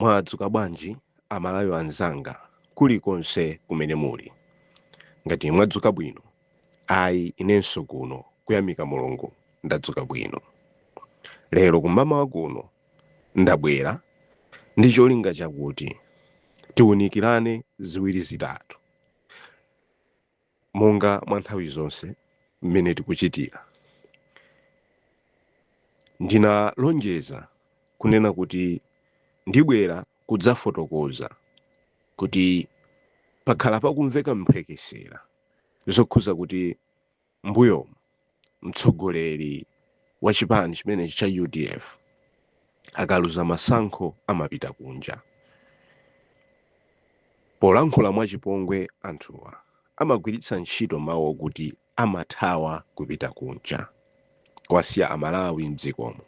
Mwadzuka bwanji amalawi anzanga kulikonse kumene muli. Ngati mwadzuka bwino ayi inenso kuno kuyamika Mulungu ndadzuka bwino. Lero kummawa kuno ndabwera ndi cholinga chakuti tiunikirane ziwiri zitatu. Monga mwa nthawi zonse mmene tikuchitira, ndinalonjeza kunena kuti ndibwera kudzafotokoza kuti pakhala pakumveka mphekesera zokhuza kuti m'mbuyomu, mtsogoleri wa chipani chimenechi cha udf akaluza masankho amapita kunja polankhula mwachipongwe anthuwa amagwiritsa ntchito mawu okuti amathawa kupita kunja kuwasiya amalawi mdzikomo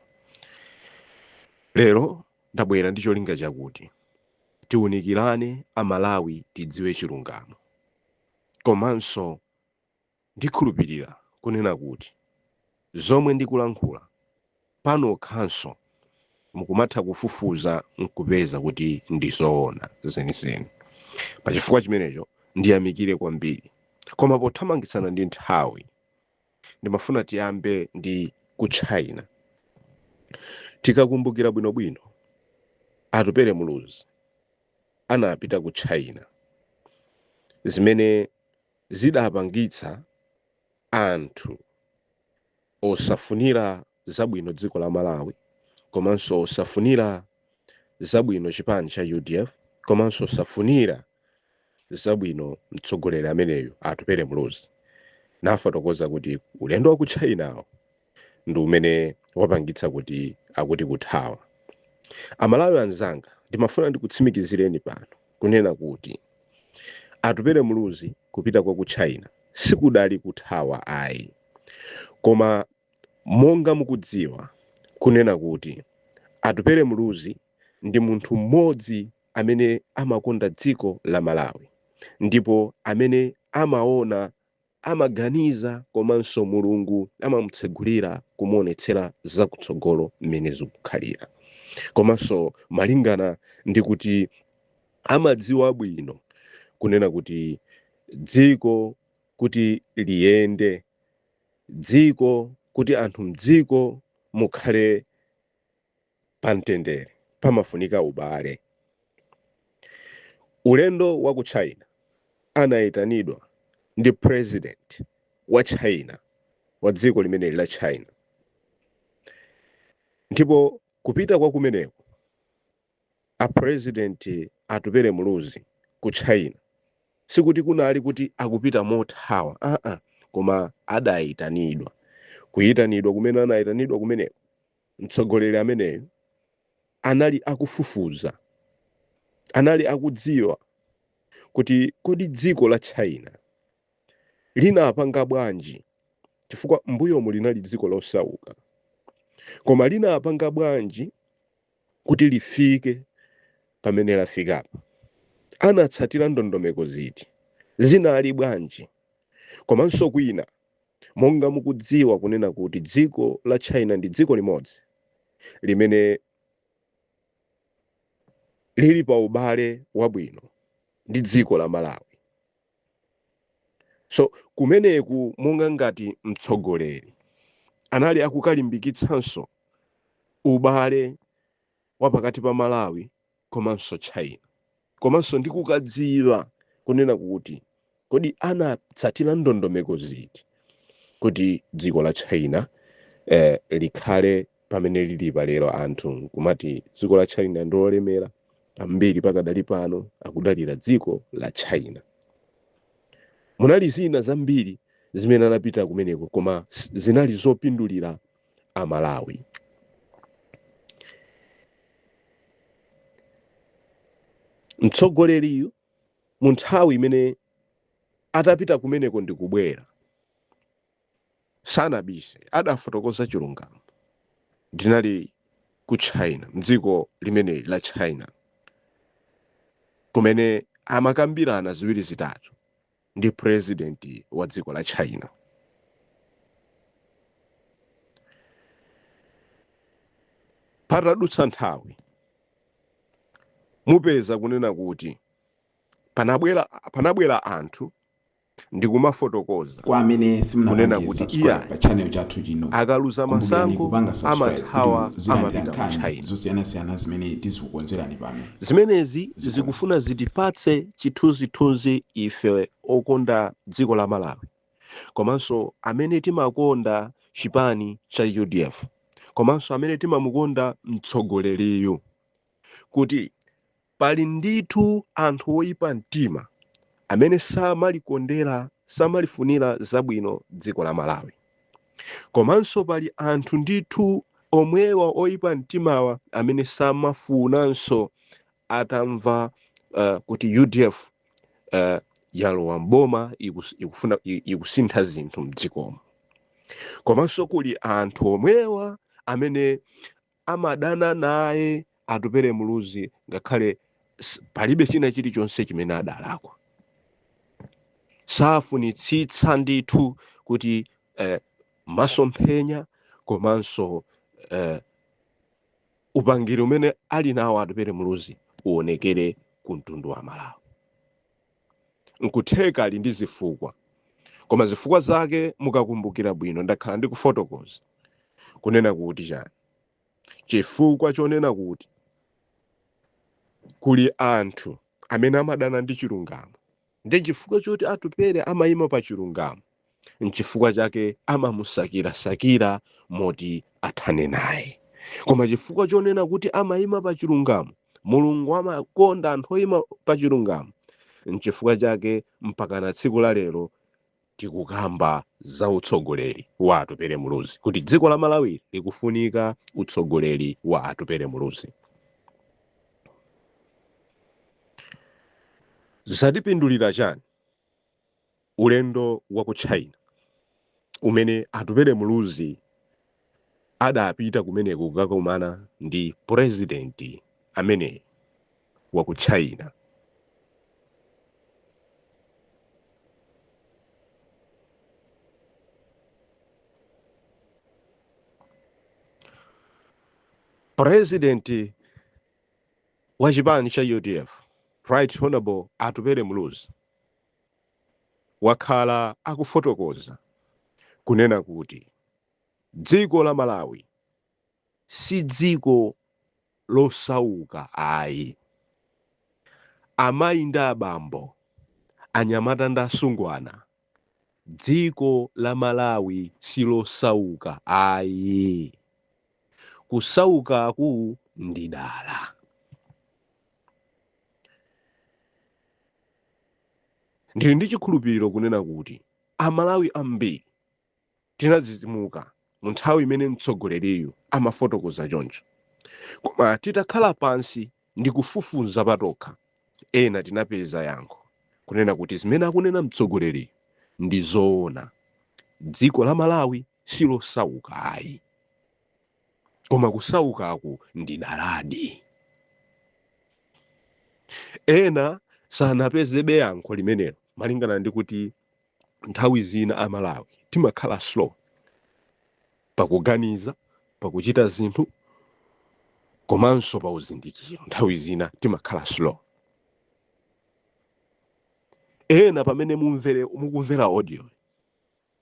lero ndabwera ndi cholinga chakuti tiunikirane amalawi tidziwe chilungamo komanso Ndikhulupirira kunena kuti zomwe ndikulankhula pano nokhanso mukumatha kufufuza nkupeza kuti ndi zoona zenizeni. Pa chifukwa chimenecho ndiyamikire kwambiri. Koma pothamangitsana ndi nthawi, ndimafuna tiyambe ndi ku China. Tikakumbukira bwinobwino, Atupele Muluzi anapita ku China. Zimene. zidapangitsa anthu osafunira zabwino dziko la Malawi komanso osafunira zabwino chipani cha udf komanso osafunira zabwino mtsogoleri ameneyu Atupele Muluzi anafotokoza kuti ulendo wa ku China-wu ndi umene wapangitsa kuti akuti kuthawa amalawi anzanga ndimafuna ndikutsimikizireni pano kunena kuti Atupele Muluzi kupita kwake ku china sikudali kuthawa ayi koma monga mukudziwa kunena kuti Atupele Muluzi ndi munthu mmodzi amene amakonda dziko la malawi ndipo amene amaona amaganiza komanso Mulungu amamutsegulira kumuonetsera zakutsogolo mmene zikukhalira komanso malingana ndi kuti amadziwa bwino kunena kuti dziko kuti liyende dziko kuti anthu mdziko mukhale Pa mtendere pamafunika ubale. Ulendo wa ku China anaitanidwa ndi president wa China, wa dziko limeneli la China. Ndipo kupita kwa kumeneko a president Atupele Muluzi ku China sikuti kunali kuti akupita mothawa aa koma adaitanidwa. Kuitanidwa kumene anaitanidwa kumeneko Mtsogoleri ameneyo anali akufufuza, anali akukadziwa kuti kodi dziko la China linapanga bwanji, chifukwa m'mbuyomu linali dziko losauka, koma linapanga bwanji kuti lifike pamene lafikapa. Anatsatira ndondomeko ziti, zinali bwanji komanso kwina Monga mukudziwa kunena kuti dziko la China ndi dziko limodzi limene lili pa ubale wabwino ndi dziko la Malawi. So kumeneku monga ngati mtsogoleri anali akukalimbikitsanso ubale wa pakati pa Malawi komanso China, komanso ndi kukadziwa kunena kuti kodi anatsatira ndondomeko ziti kuti dziko la China eh, likhale pamene lili palero anthu kumati dziko la China ndi lolemera ambiri pakadali pano akudalira dziko la China munali zina zambiri zimene anapitira kumeneko koma s- zinali zopindulira Amalawi. Mtsogoleriyu mu nthawi imene atapita kumeneko ndi kubwera sanabise adafotokoza chilungamo ndinali ku China m'dziko limeneli la China kumene amakambirana ziwiri zitatu ndi president wa dziko la China patadutsa nthawi mupeza kunena kuti panabwera anthu ndikumafotokoza kwa amene simunapange Kunena kuti subscribe iya. pa channel chathu chino akaluza kumbukirani masankho kupanga subscribe amathawa kuti muzilandira amapita ku nkhani China zosiyanasiyana zimene tizikukonzerani pano zimenezi zikufuna zitipatse Chithunzithunzi, Ife okonda dziko la Malawi komanso amene timakonda chipani cha UDF komanso amene timamukonda mtsogoleriyu kuti pali ndithu anthu oipa mtima amene samalikondera, samalifunira zabwino dziko la Malawi komanso pali anthu ndithu omwewa oipa mtimawa amene samafunanso atamva kuti UDF yalowa m'boma ikufuna ikusintha zinthu mdzikomo komanso kuli anthu omwewa amene amadana naye Atupele Muluzi ngakhale palibe china chilichonse chimene adalakwa safunitsitsa ndithu kuti eh, masomphenya komanso eh, upangiri umene ali nawo Atupele Muluzi uonekere ku mtundu wa Malawi nkutheka ali ndi zifukwa koma zifukwa zake mukakumbukira bwino ndakhala ndikufotokoza kunena kuti chani chifukwa chonena kuti kuli anthu amene amadana ndi chilungamo Ndi chifukwa choti Atupele amayima pa chilungamo, n'chifukwa chake amamusakirasakira moti athane naye. Koma chifukwa chonena kuti amayima pa chilungamo, Mulungu amakonda anthu oyima pa chilungamo, n'chifukwa chake mpakana tsiku la lero tikukamba za utsogoleri wa Atupele Muluzi kuti dziko la Malawi likufunika utsogoleri wa Atupele Muluzi. Zatipindulira chani ulendo wa ku China umene Atupele Muluzi adapita kumeneko kukakumana ndi purezidenti amene wa ku China. Purezidenti wa chipani cha UDF Right Honorable Atupele Muluzi wakhala akufotokoza kunena kuti Dziko la Malawi si dziko losauka ayi. Amayi ndi abambo, anyamata ndi asungwana, dziko la Malawi si losauka ayi. Kusaukaku ndi dala. Ndili ndi chikhulupiriro kunena kuti Amalawi ambiri Tinadzidzimuka mu nthawi imene mtsogoleriyu amafotokoza choncho. Koma titakhala pansi ndi kufufuza patokha, ena tinapeza yankho, kunena kuti zimene akunena mtsogoleriyu ndi zoona. Dziko la Malawi si losauka ayi. Koma kusaukaku ndi daladi. Ena sanapezebe yankho limenelo malingana ndi kuti nthawi zina a Malawi timakhala slow pakuganiza, pakuchita zinthu komanso pa uzindikiro nthawi zina timakhala slow. Ena pamene mumvere mukumvera audio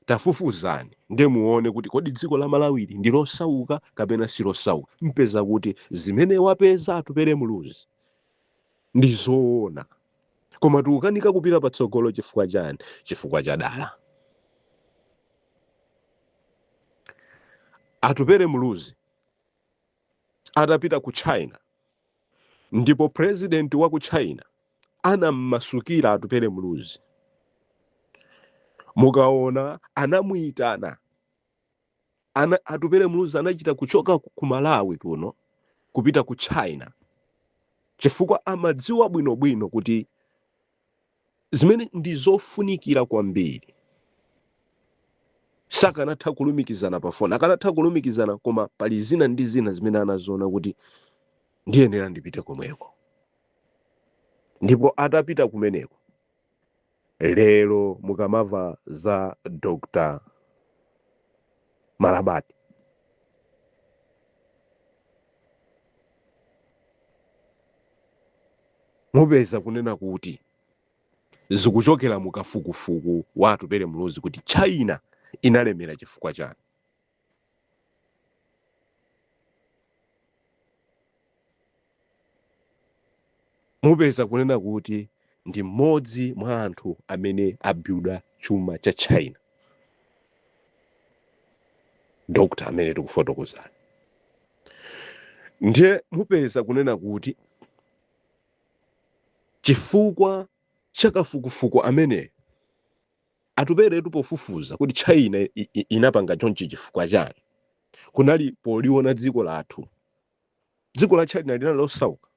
tafufuzani nde muone kuti kodi dziko la Malawili ndi losauka kapena si losauka. Mpeza kuti zimene wapeza Atupele Muluzi ndi zoona. koma tikukanika kupita patsogolo chifukwa chani chifukwa cha dala Atupele muluzi atapita ku china ndipo purezidenti wa ku china anammasukira Atupele muluzi mukaona anamuyitana Atupele Muluzi anachita kuchoka ku Malawi kuno kupita ku China chifukwa amadziwa bwinobwino kuti zimene ndi zofunikira kwambiri sakanatha kulumikizana pa foni akanatha kulumikizana koma pali zina ndi zina zimene anaziona kuti ndiyenera ndipite komweko ndipo atapita kumeneko lero mukamava za dr malabadi mupeza kunena kuti zikuchokera mu kafukufuku wa Atupele Muluzi kuti china inalemera chifukwa chani Mupeza kunena kuti ndi mmodzi mwa anthu amene abuilda chuma cha China doctor amene tikufotokozayu. Ndiye mupeza kunena kuti chifukwa cha kafukufuku ameneyu, Atupeletu pofufuza kuti China inapanga chonchi chifukwa chani kunali poliona dziko lathu dziko la China linali losauka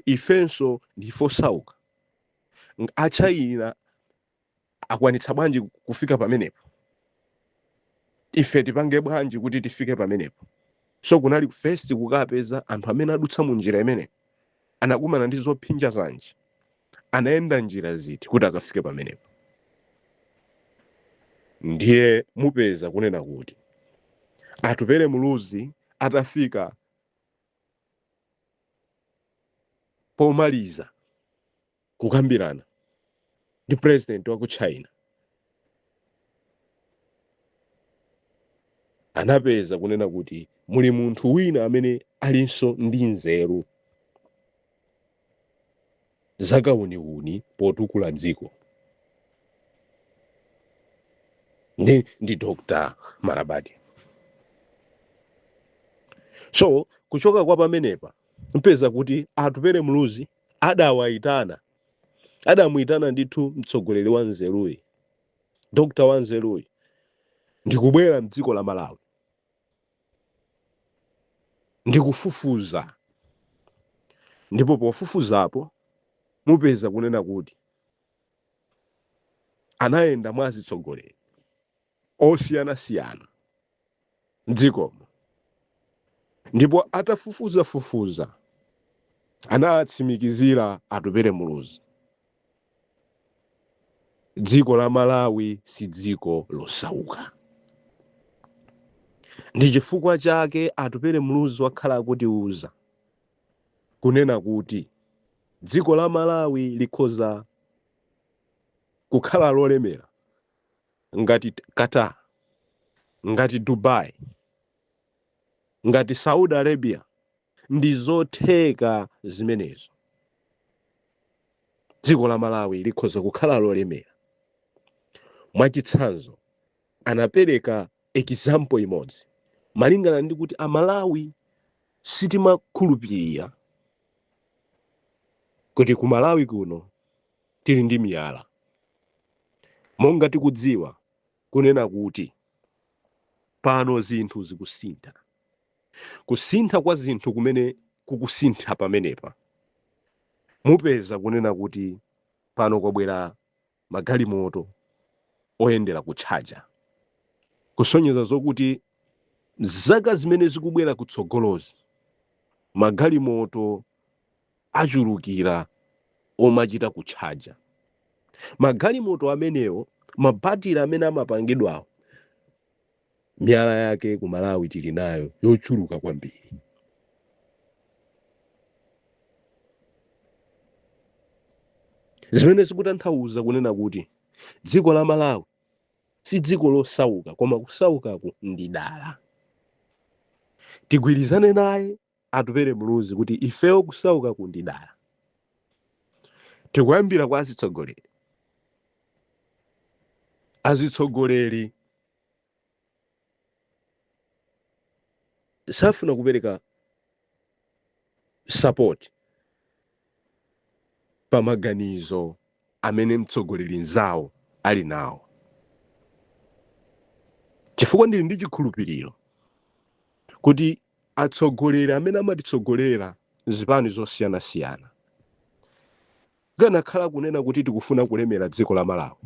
ifenso ndife osauka a China akwanitsa bwanji kufika pamenepo ife tipange bwanji kuti tifike pamenepo so kunali first kukapeza anthu amene adutsa mu njira imeneyo Anakumana ndi zophinja zanji? Anayenda njira ziti kuti akafike pamenepo? Ndiye mupeza kunena kuti Atupele Muluzi atafika pomaliza. kukambirana ndi president wa ku china anapeza kunena kuti muli munthu wina amene alinso ndi nzeru zakawuniwuni potukula dziko ndi, ndi dr marabati so kuchoka kwa pamenepa mupeza kuti atupere muluzi Adawayitana, adamuyitana ndithu mtsogoleri wanzeruyi, dokotala wanzeruyi ndikubwera mdziko la Malawi ndikufufuza ndipo pofufuzapo mupeza kunena kuti anayenda mwa azitsogoleri. osiyanasiyana m'dzikomo ndipo atafufuzafufuza anawatsimikizira Atupele Muluzi, dziko la Malawi si dziko losauka. Ndi chifukwa chake Atupele Muluzi wakhala akutiuza kunena kuti dziko la Malawi likhoza kukhala lolemera ngati Qatar, ngati Dubai, ngati Saudi Arabia, ndi zotheka zimenezo. Dziko la Malawi likhoza kukhala lolemera. Mwachitsanzo, anapereka example imodzi malingana ndi kuti Amalawi sitimakhulupirira kuti ku Malawi kuno tili ndi miyala. Monga tikudziwa, kunena kuti, pano zinthu zikusintha. Kusintha kwa zinthu kumene kukusintha pamenepa, mupeza kunena kuti pano kwabwera magalimoto oyendera kutchaja, kusonyeza zokuti zaka zimene zikubwera kutsogolozi, magalimoto achulukira omachita kutchaja magalimoto amenewo mabatire amene amapangidwawo miyala yake ku malawi tili nayo yochuluka kwambiri zimene zikutanthauza kunena kuti dziko la malawi si dziko losauka koma kusaukaku ndi dala tigwirizane naye Atupele Muluzi kuti ifeyo kusaukaku ndi dala. Tikuyambira kwa azitsogoleri. Azitsogoleri safuna kupereka support. pa maganizo amene mtsogoleri mzawo ali nawo chifukwa ndili ndi chikhulupiriro kuti atsogoleri amene amatitsogolera mzipani zosiyanasiyana akanakhala kunena kuti tikufuna kulemera dziko la malawi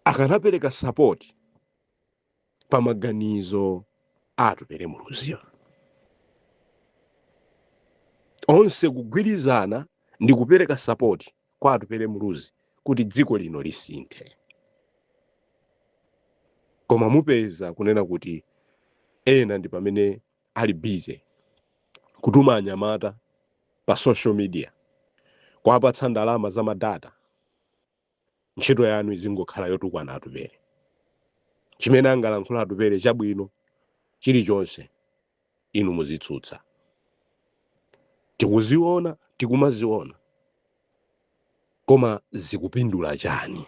akanapereka sapoti pa maganizo a atupele muluzi onse kugwirizana ndi kupereka sapoti kwa atupele muluzi kuti dziko lino lisinthe koma mupeza kunena kuti ena ndi pamene ali busy kutuma anyamata pa social media kuwapatsa ndalama za madata ntchito yanu izingokhala yotukwana atupele chimene angalankhule atupele chabwino chilichonse inu muzitsutsa tikuziona tikumaziona koma zikupindula chani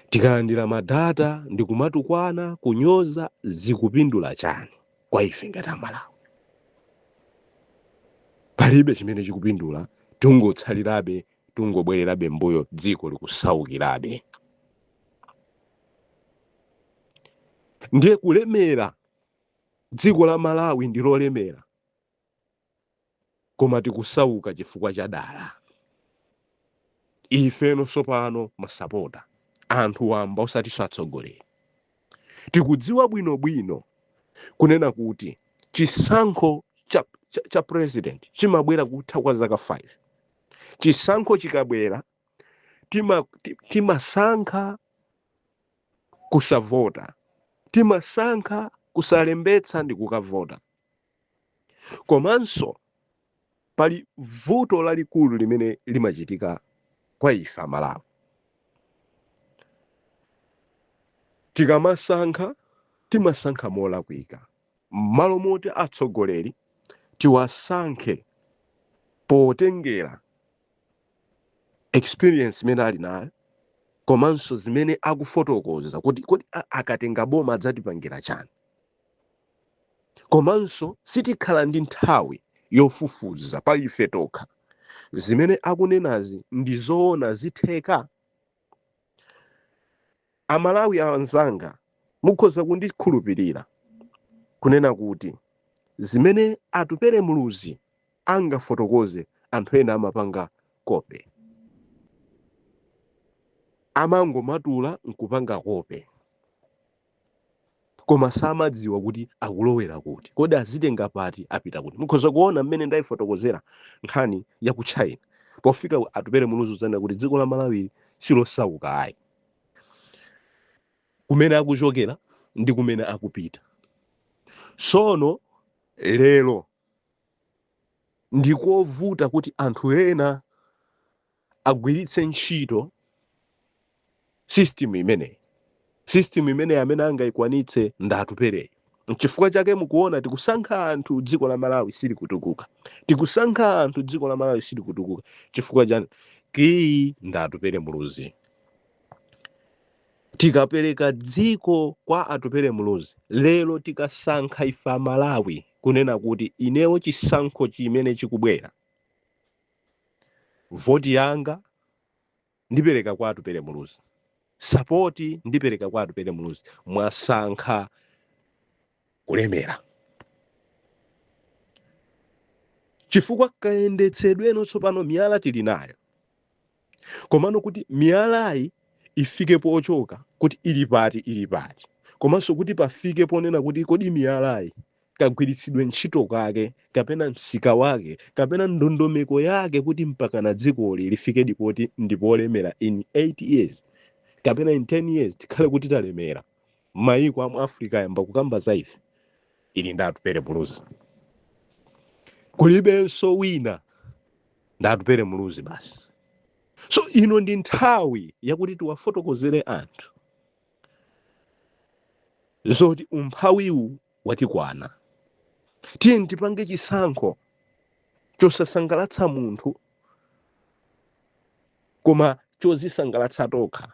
tikalandira madata ndi kumatukwana kunyoza zikupindula chani kwa ife ngati amalawi palibe chimene chikupindula tingotsalirabe tingobwererabe mbuyo dziko likusaukirabe ndiye kulemera dziko la malawi ndi lolemera koma tikusauka chifukwa cha dala ifenso sopano masapota anthu wamba osatinso atsogoleri tikudziwa bwinobwino kunena kuti chisankho cha, cha, cha president chimabwera kutha kwa zaka 5 chisankho chikabwera tima- ti- timasankha kusavota timasankha kusalembetsa ndi kukavota komanso pali vuto lalikulu limene limachitika kwa ife amalawi tikamasankha timasankha molakwika M'malo moti atsogoleri tiwasankhe potengera experience imene ali nayo komanso zimene akufotokoza kuti kodi a- akatenga boma adzatipangira chani, komanso sitikhala ndi nthawi yofufuza pa ife tokha zimene akunenazi ndi zoona zitheka. amalawi anzanga mukhoza kundikhulupirira kunena kuti zimene atupele muluzi angafotokoze anthu ena amapanga kope amangomatula nkupanga kope koma samadziwa kuti akulowera kuti kodi azitenga pati apita kuti mukhoza kuona mmene ndayifotokozera nkhani ya ku china pofika atupele muluzi udzanena kuti dziko la malawi silosauka ayi kumene akuchokera ndi kumene akupita sono lero ndikovuta kuti anthu ena agwiritse ntchito system imeneyi system imeneyi amene angayikwanitse ndi atupeleyi nchifukwa chake mukuona tikusankha anthu dziko la malawi silikutukuka tikusankha anthu dziko la malawi silikutukuka chifukwa chani kiyi ndi atupele muluzi tikapereka dziko kwa atupele muluzi lero tikasankha ife amalawi kunena kuti inewo chisankho chimene chikubwera Voti yanga ndipereka kwa Atupele Muluzi. Sapoti ndipereka kwa Atupele Muluzi. Mwasankha kulemera. Chifukwa kayendetsedweno tsopano miyala tili nayo. komano kuti miyalayi ifike pochoka kuti ili pati ili pati komanso kuti pafike ponena kuti kodi miyalayi kagwiritsidwe ntchito kake kapena msika wake kapena ndondomeko yake kuti mpakana dzikoli lifikedi poti ndipolemera in 8 years kapena in 10 years tikhale kuti talemera mayiko amu africa ayamba kukamba za ife ili ndi atupele muluzi kulibenso wina ndi atupele muluzi basi so ino ndi nthawi yakuti tiwafotokozere anthu zoti umphawiwu watikwana tiyeni tipange chisankho chosasangalatsa munthu koma chodzisangalatsa tokha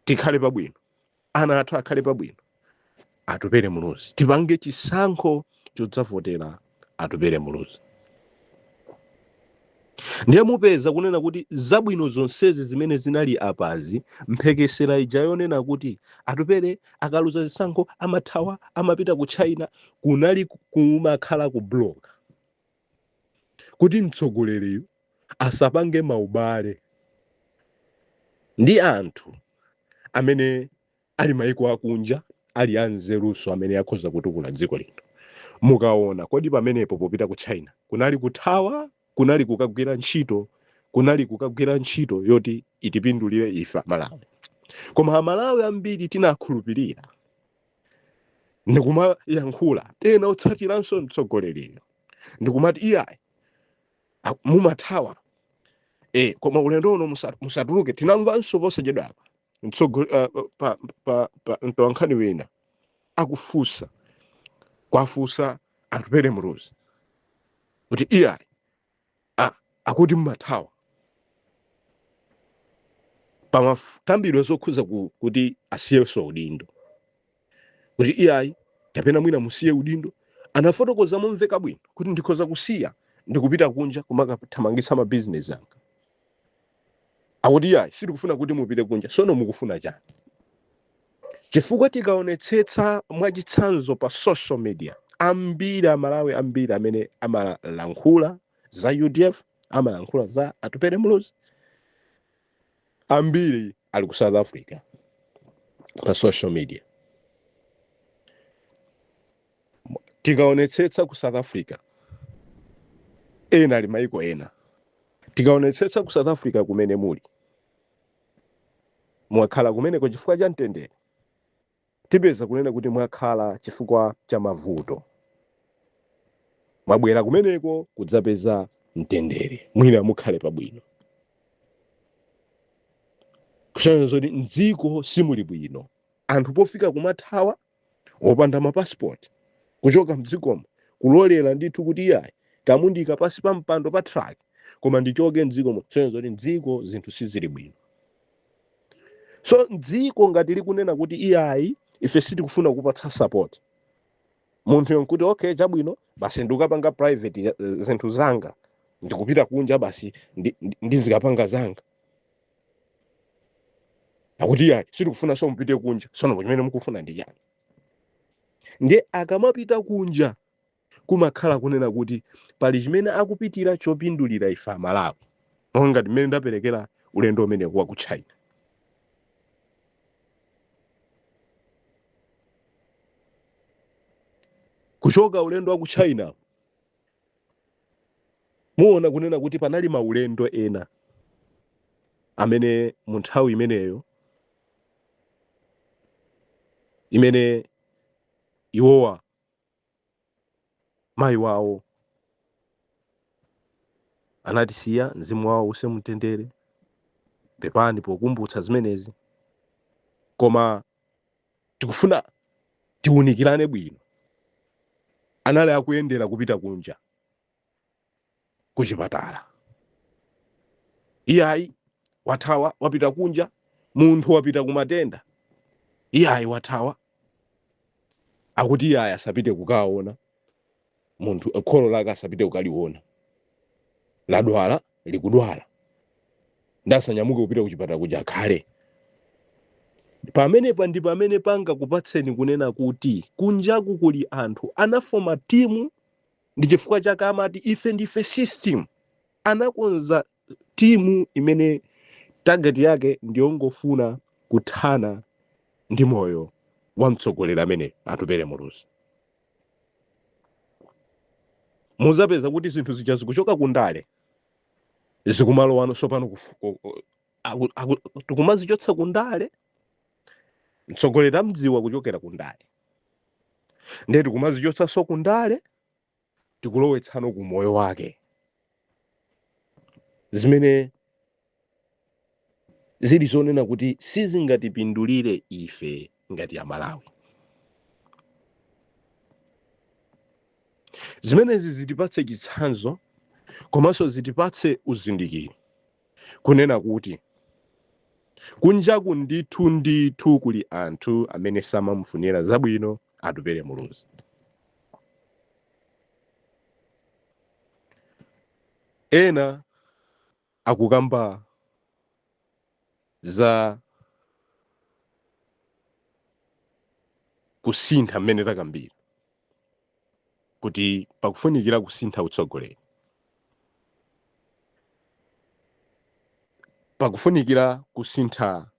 tikhale pabwino ana athu akhale pabwino atupele muluzi tipange chisankho chodzavotera atupele muluzi ndiye mupeza kunena kuti zabwino zonsezi zimene zinali apazi mphekesera ija yonena kuti atupele akaluza zisankho amathawa amapita ku china kunali kumakhala ku blog kuti mtsogoleriyu asapange maubale ndi anthu amene ali maiko akunja ali anzeruso amene akhoza kutukula dziko lino mukaona kodi pamenepo popita ku china kunali kuthawa kunali kukagwira ntchito kunali kukagwira ntchito yoti itipindulire ife amalawi koma amalawi ambiri tinakhulupirira ndikumayankhula ena otsatiranso mtsogoleriyu ndikumati iyayi a- mumathawa e, koma ulendo uno musa- musatuluke tinamvanso posachedwa apa mtsogo- ah, pa- pa- pa- mtolankhani wina akufunsa kuwafunsa atupele muluzi kuti iyayi a akuti mumathawa pamakambidwa zokhuza ku, kuti asiyenso udindo kuti iyayi kapena mwina musiye udindo anafotokoza momveka bwino kuti ndikhoza kusiya ndikupita kunja kumakathamangitsa mabizinesi anga akuti iyayi sitikufuna kuti mupite kunja sono mukufuna chani chifukwa tikaonetsetsa mwachitsanzo pa social media ambiri amalawi ambiri amene amalankhula za udf amalankhula za atupele muluzi ambiri ali ku south africa pa social media tikaonetsetsa ku south africa ena ali maiko ena tikaonetsetsa ku south africa kumene muli mwakhala kumeneko chifukwa cha mtendere tipeza kunena kuti mwakhala chifukwa cha mavuto mwabwera kumeneko kudzapeza mtendere mwina mukhale pabwino kusonyeza zoti mdziko simuli bwino anthu pofika kumathawa opanda ma passport kuchoka mdzikomo kulolera ndithu kuti iyayi kamundika pansi pa mpando pa truck koma ndichoke mdzikomo kusonyeza zoti mdziko zinthu sizili bwino so mdziko ngati likunena kuti iyayi ife sitikufuna kupatsa support munthuyo nkuti okay chabwino basi ndikapanga private ya- zinthu zanga ndikupita kunja basi ndi- ndi- ndizikapanga zanga akuti iyayi sitikufunanso mupite kunja sono chimene mukufuna ndi chani ndiye akamapita kunja kumakhala kunena kuti pali chimene akupitira chopindulira ife amalawi monga ngati mmene ndaperekera ulendo umenewu wa ku china kuchoka ulendo wa ku china muona kunena kuti panali maulendo ena amene mu nthawi imeneyo imene iwowa mayi wawo anatisiya mzimu wawo uuse mumtendere pepani pokumbutsa zimenezi koma tikufuna tiunikirane bwino anali akuyendera kupita kunja kuchipatala iyayi wathawa wapita kunja munthu wapita kumatenda iyayi wathawa akuti iyayi asapite kukaona munthu kholo lake asapite kukaliona ladwala likudwala nde asanyamuke kupita kuchipatala kuja akhale pamenepa ndi pamene pangakupatseni kunena kuti kunjaku kuli anthu anafoma timu ndi chifukwa chake amati ife ndife system anakonza timu imene target yake ndiyongofuna kuthana ndi moyo wa mtsogoleri amene atupele muluzi muzapeza kuti zinthu zija zikuchoka kundale zikumalowa sopano tikumazichotsa kundale mtsogoleri amdziwa kuchokera kundale ndiye tikumazichotsanso kundale tikulowetsano ku moyo wake zimene zili zonena kuti sizingatipindulire ife ngati amalawi zimenezi zitipatse chitsanzo komanso zitipatse uzindikiro kunena kuti kunjaku ndithu ndithu kuli anthu amene samamufunira zabwino atupele muluzi ena akukamba za kusintha mmene takambira kuti pakufunikira kusintha utsogoleri pakufunikira kusintha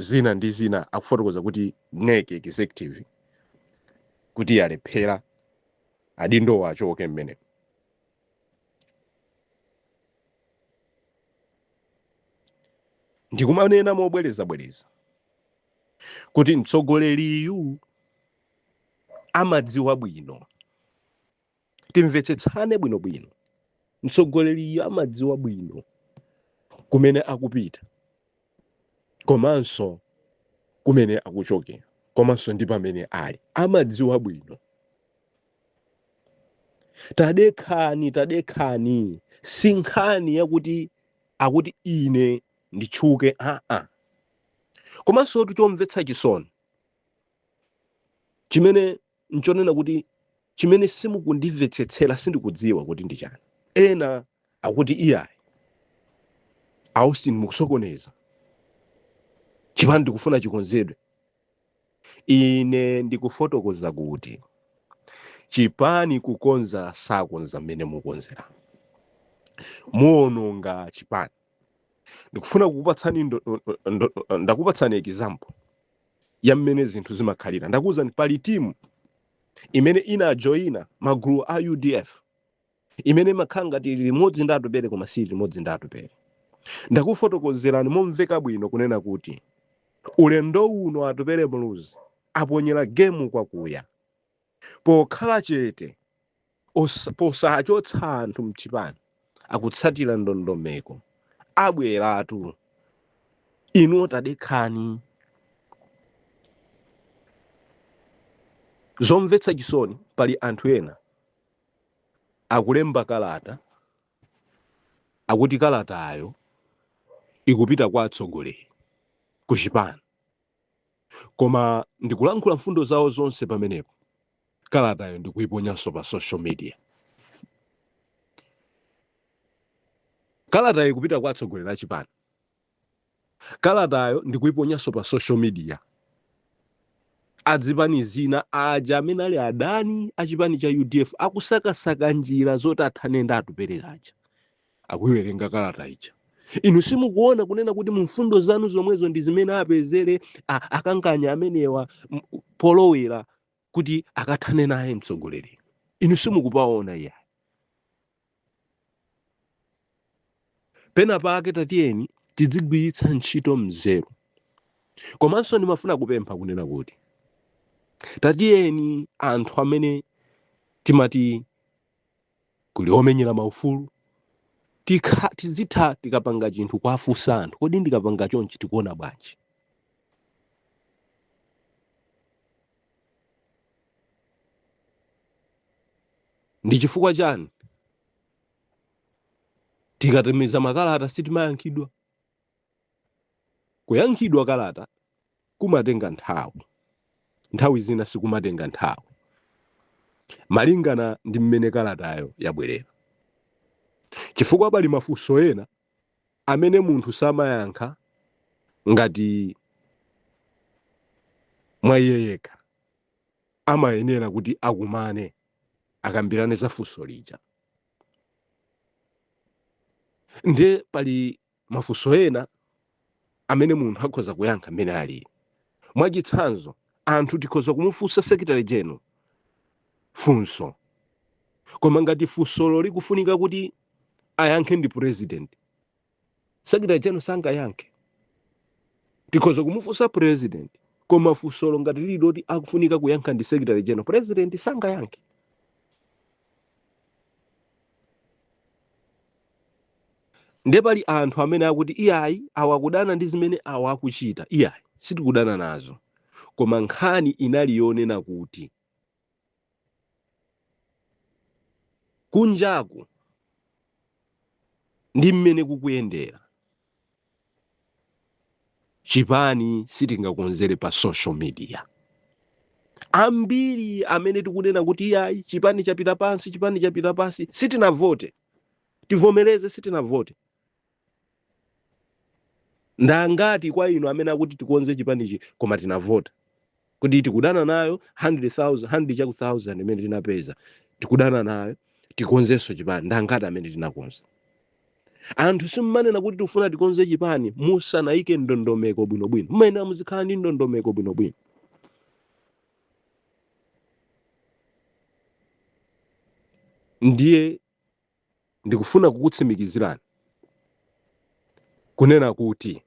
zina ndi zina akufotokoza kuti NEC executive kuti yalephera adindowo achoke mmene ndikumanena mobwerezabwereza kuti mtsogoleriyu amadziwa bwino timvetsetsane bwinobwino mtsogoleriyo amadziwa bwino kumene akupita komanso kumene akuchokera komanso ndi pamene ali amadziwa bwino tadekhani tadekhani si nkhani yakuti akuti ine nditchuke aa komanso tu chomvetsa chisoni chimene nchonena kuti, Chimene simukundimvetsetsera sindikudziwa kuti ndi chani. Ena akuti iyayi, a Austin mukusokoneza, chipani ndikufuna chikonzedwe. Ine ndikufotokoza kuti chipani kukonza sakonza mmene mukonzera, muononga chipani. Ndikufuna kukupatsani ndo, ndo, ndakupatsani example. ya mmene zinthu zimakhalira ndakuwuzani pali timu imene inajoyina magulu a udf imene imakhala ngati ili limodzi ndi atupere koma si limodzi ndi atupere ndakufotokozerani momveka bwino kunena kuti ulendo uno atupere muluzi aponyera gemu kwakuya pokhala chete Osa- posachotsa anthu mchipani akutsatira ndondomeko abweratu inu tadekhani zomvetsa chisoni pali anthu ena akulemba kalata akuti kalatayo ikupita kwa atsogoleri ku chipani koma ndikulankhula mfundo zawo zonse pamenepo kalatayo ndikuiponyanso pa social media kalatayo ikupita kwa atsogoleri achipani kalatayo ndikuiponyanso pa social media adzipani zina aja amene ali adani achipani cha udf akusakasaka njira zoti athane ndi atupere aja akuiwerenga kalata ija inu simukuona kunena kuti mu mfundo zanu zomwezo ndi zimene apezere a- akanganya amenewa m- polowera kuti akathane naye mtsogoleriyo inu simukupaona iya pena pake tatiyeni tidzigwiritsa ntchito mzeru komanso ndimafuna kupempha kunena kuti tatiyeni anthu amene timati kuli omenyera maufulu tikha tizitha tikapanga chinthu kuwafunsa anthu kodi ndikapanga chonchi tikuona bwanji ndi chifukwa chani tikatumiza makalata sitimayankhidwa Kuyankhidwa kalata kumatenga nthawi, nthawi zina sikumatenga nthawi malingana ndi mmene kalatayo yabwerera, chifukwa pali mafunso ena amene munthu samayankha ngati mwa iye yekha, amayenera kuti akumane akambirane za funso lija. Ndiye pali mafunso ena amene munthu akhoza kuyankha mmene alili mwachitsanzo anthu tikhoza kumufunsa secretary general funso koma ngati funsolo likufunika kuti ayankhe ndi president secretary general sangayankhe tikhoza kumufunsa president koma funsolo ngati lili loti akufunika kuyankha ndi secretary general president sangayankhe ndiye pali anthu amene akuti iyayi awa akudana ndi zimene awa akuchita iyayi sitikudana nazo koma nkhani inali yonena kuti kunjaku ndi mmene kukuyendera chipani sitingakonzere pa social media ambiri amene tikunena kuti iyayi chipani chapita pansi chipani chapita pansi sitinavote tivomereze sitinavote ndangati kwa inu amene akuti tikonze chipanichi koma tinavota kuti tikudana nayo 100 chakuti thousand imene tinapeza tikudana nayo tikonzenso chipani ndi angati amene tinakonza? Anthu simumanena kuti tikufuna tikonze chipani musanaike ndondomeko bwinobwino. Mumayenera muzikhala ndi ndondomeko bwinobwino. Ndiye Ndikufuna kukutsimikizirani kunena kuti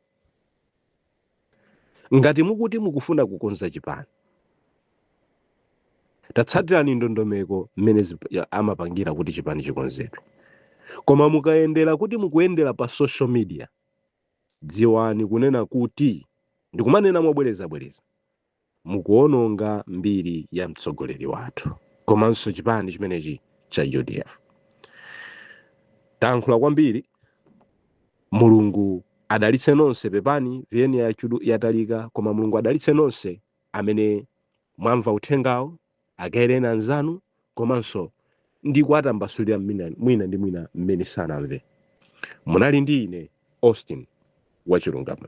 ngati mukuti mukufuna kukonza chipani, tatsatirani ndondomeko mmene amapangira kuti chipani chikonzedwe. Koma mukayendera kuti mukuyendera pa social media, dziwani kunena kuti ndikumanena mobwerezabwereza mukuononga mbiri ya mtsogoleri wathu komanso chipani chimenechi cha udf tayankhula kwambiri mulungu adalitse nonse pepani VN yatalika koma mulungu adalitse nonse amene mwamva uthengawo Agawireni anzanu komanso ndi kuwatambasulira mmina- mwina ndi mwina mmene sanamve. Munali ndi ine, Austin wachilungamo.